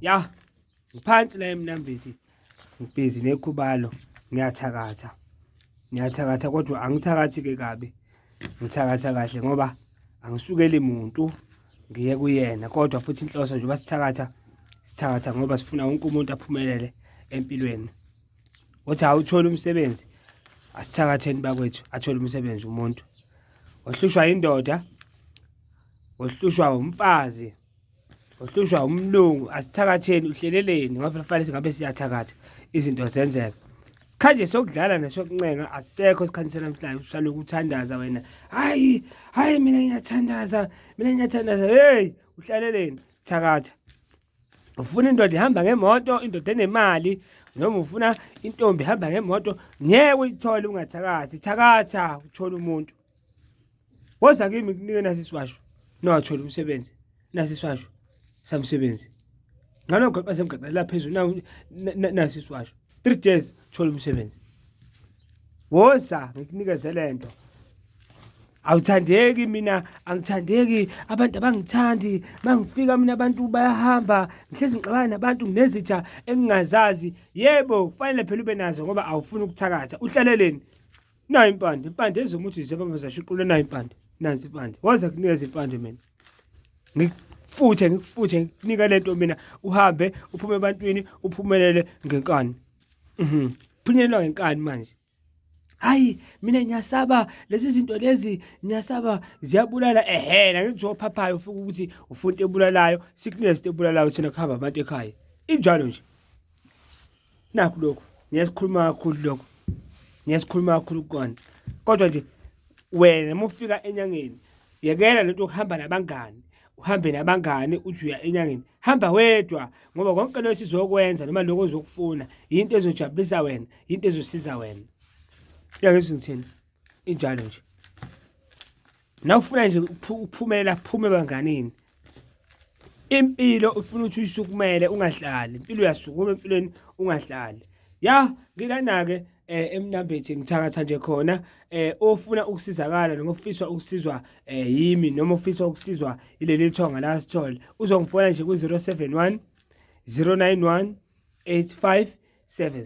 ya ngiphansi la emnambithi ngibhizi nekhubalo ngiyathakatha ngiyathakatha kodwa angithakathi ke kabi ngithakatha kahle ngoba angisukeli muntu ngiye kuyena kodwa futhi inhloso nje basithakatha sithakatha ngoba sifuna wonke umuntu aphumelele empilweni uthi awuthole umsebenzi asithakatheni bakwethu athole umsebenzi umuntu ohlushwa indoda ohlushwa umfazi ohlushwa umlungu asithakatheni uhleleleni ngoba kufanele singabe siyathakatha izinto zenzeka khanje sokudlala nesokuncenga asekho isikhathi sanamhlanje usale ukuthandaza wena hayi hayi mina ngiyathandaza mina ngiyathandaza hey uhlaleleni thakatha ufuna indoda ihamba ngemoto indoda enemali noma ufuna intombi ihamba ngemoto ngeke uyithole ungathakathi thakatha uthole umuntu woza kimi kunike nasi siwasho nowathola umsebenzi nasi siwasho samsebenzi ngalo gqeqe semgqeqe la phezulu nasi siwasho 3 days thola umsebenzi woza ngikunikeze lento awuthandeki mina angithandeki abantu abangithandi mangifika mina abantu bayahamba ngihlezi ngixabana nabantu nginezitha engingazazi yebo kufanele phela ube nazo ngoba awufuni ukuthakatha uhlaleleni nayo impande impande ezomuthi zebaba zashuqule nayo impande nansi impande waza kunikeza impande mina ngikufuthe ngikufuthe ngikunika lento mina uhambe uphume ebantwini uphumelele ngenkani mhm phunyelelwa ngenkani manje hayi mina ngiyasaba lezi zinto lezi ngiyasaba ziyabulala ehena ngenziwa ophaphayo ufika ukuthi ufuna into ebulalayo sickness into ebulalayo thina kuhamba abantu ekhaya injalo nje nakho lokho ngiyasikhuluma kakhulu lokho ngiyasikhuluma kakhulu kukona kodwa nje wena uma ufika enyangeni yekela lento yokuhamba nabangani uhambe nabangani uthi uya enyangeni hamba wedwa ngoba konke lokho sizokwenza noma lokho ozokufuna yinto ezojabulisa wena yinto ezosiza wena yakezwe ngithini injalo nje nawufuna nje ukuphumelela kuphume ebanganini impilo ufuna ukuthi uyisukumele ungahlali impilo uyasukuma empilweni ungahlali ya ngilana-ke eh emnambethi ngithakatha nje khona eh ofuna ukusizakala noma ofiswa ukusizwa eh yimi noma ofisa ukusizwa ileli thonga la sithole uzongifona nje ku 071 091 85 7